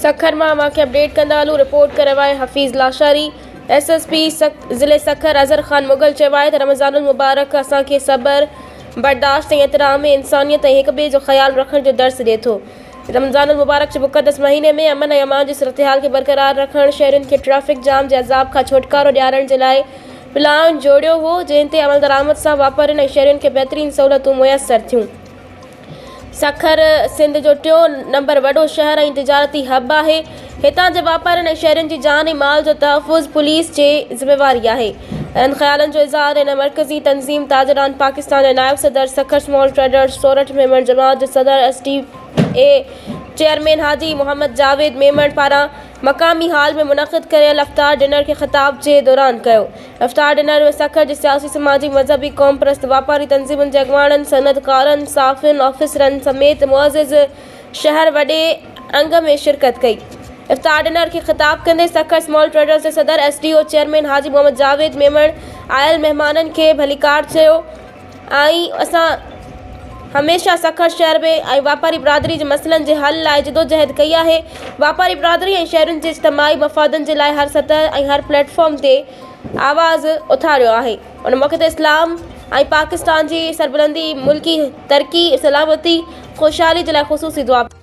سکر مان اوهان کي اپڊيٽ ڪندا هلون رپورٽ ڪريو آهي Hafeez Lashari S S P ضلعي سکر اظهر خان مغل چيو آهي ته رمضان المبارڪ اسان کي صبر برداشت ۽ احترام انسانيت ۽ هڪ ٻئي جو خيال رکڻ جو درس ڏي ٿو رمضان المبارڪ جي مقدس مهيني ۾ امن ۽ امان جي صورتحال کي برقرار رکڻ شهرين کي ٽريفڪ جام جي عذاب کان ڇوٽڪارو ڏيارڻ جي لاء پلان جوڙيو هو، جنهن تي عملدرآمد سان واپارين ۽ شهرين کي بهترين سهولتون ميسر ٿيون. سکر سنڌ جو ٽيون نمبر وڏو شهر ۽ تجارتي هب آهي. هتان جي واپارين ۽ شهرين جي جان ۽ مال جو تحفظ پوليس جي ذميواري آهي. اهڙن خيالن جو اظهار هن مرڪزي تنظيم تاجران پاڪستان جي نائب صدر سکر سمال ٽريڊرز سورٺ ميمڻ جماعت جو صدر S T A chairman Haji Muhammad Javed Memon پاران مقامي هال ۾ منعقد ڪيل افطار ڊنر کي خطاب جي دوران ڪيو افطار ڊنر ۾ سکر جي سياسي سماجي مذهبي قومپرست واپاري تنظيمن جي اڳواڻن صنعت ڪارن صحافين آفيسرن سميت معزز شهر وڏي انگ ۾ شرڪت ڪئي افطار ڊنر کي خطاب ڪندي سکر اسمال ٽريڊرز جي صدر S D O chairman Haji Muhammad Javed Memon آيل مهمانن کي ڀليڪار چيو آئين اسان هميشه سکر شهر ۾ آئين واپاري برادري جي مسئلن جي حل لاء جدوجهد ڪئي آهي. واپاري برادري ۽ شهرين جي اجتماعي مفادن جي لاء هر سطح ۽ هر پليٽ فارم تي آواز اٿاريو آهي. ان موقعي تي اسلام ۽ پاڪستان جي سربلندي، ملڪي ترقي، سلامتي، خوشحالي جي لاء خصوصي دعا پڻ ڪئي.